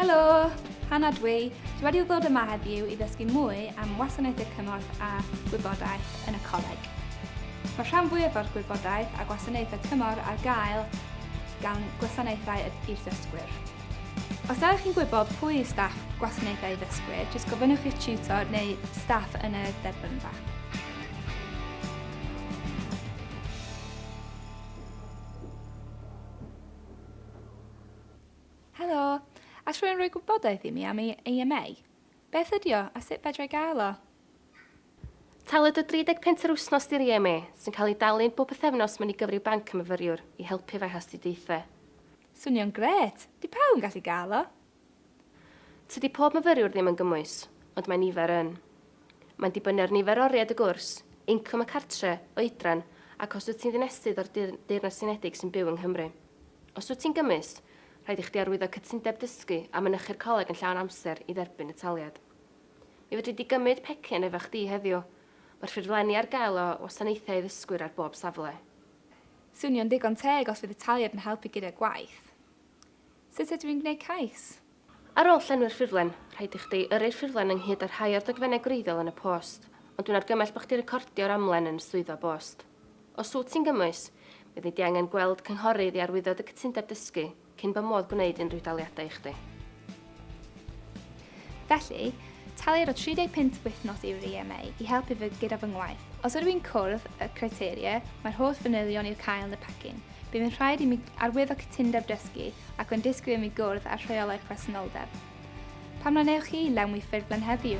Helo! Hannah dw i. Dwi wedi ddod yma heddiw i ddysgu mwy am wasanaethau cymorth a gwybodaeth yn y coleg. Mae rhan fwyaf o'r gwybodaeth a gwasanaethau cymorth ar gael gan gwasanaethau i'r ddysgwyr. Os ydych chi'n gwybod pwy yw staff gwasanaethau ddysgwyr, jyst gofynnwch i'r tutor neu staff yn y derbynfa. Helo! All rhywun roi gwybodaeth i mi am ei AMA? Beth ydi o a sut fedra i gael o? Talwyd o 30 punt yr wythnos di'r AMA, sy'n cael ei dalu'n bob pythefnos mewn i gyfryw banc y myfyriwr, i helpu efo'i hastudiaethau. Swnio'n grêt! Di pawb yn gallu gael o? Tydi pob myfyriwr ddim yn gymwys, ond mae nifer yn. Mae'n dibynnu ar nifer oriau dy gwrs, incwm y cartre, oedran, ac os wyt ti'n ddinesydd o'r Deyrnas Unedig sy'n byw yng Nghymru. Os wyt ti'n gymwys, rhaid i chdi arwyddo cytundeb dysgu a mynychu'r coleg yn llawn amser i dderbyn y taliad. Mi fedri di gymryd pecyn efo chdi heddiw. Mae'r ffurflenni ar gael o wasanaethau i ddysgwyr ar bob safle. Swnio'n ddigon teg os fydd y taliad yn helpu gyda gwaith. Sut ydw i'n gwneud cais? Ar ôl llenwi'r ffurflen, rhaid i chdi yrru'r ffurflen ynghyd â rhai o'r dogfennau gwreiddiol yn y post, ond dwi'n argymell bod chdi recordio'r amlen yn y swyddfa bost. Os wyt ti'n gymwys, fyddi di angen gweld cynghorydd i arwyddo dy gytundeb dysgu cyn bo modd gwneud unrhyw daliadau i chdi. Felly, talir o 35 wythnos i'r EMA i helpu fy gyda fy ngwaith. Os ydw i'n cwrdd y criteria, mae'r holl fanylion i'r cael yn y pecyn. Bydd yn rhaid i mi arwyddo cytundeb dysgu ac yn disgwyl i mi gwrdd â'r rheolau presenoldeb. Pam na wnewch chi lenwi ffurflen heddiw?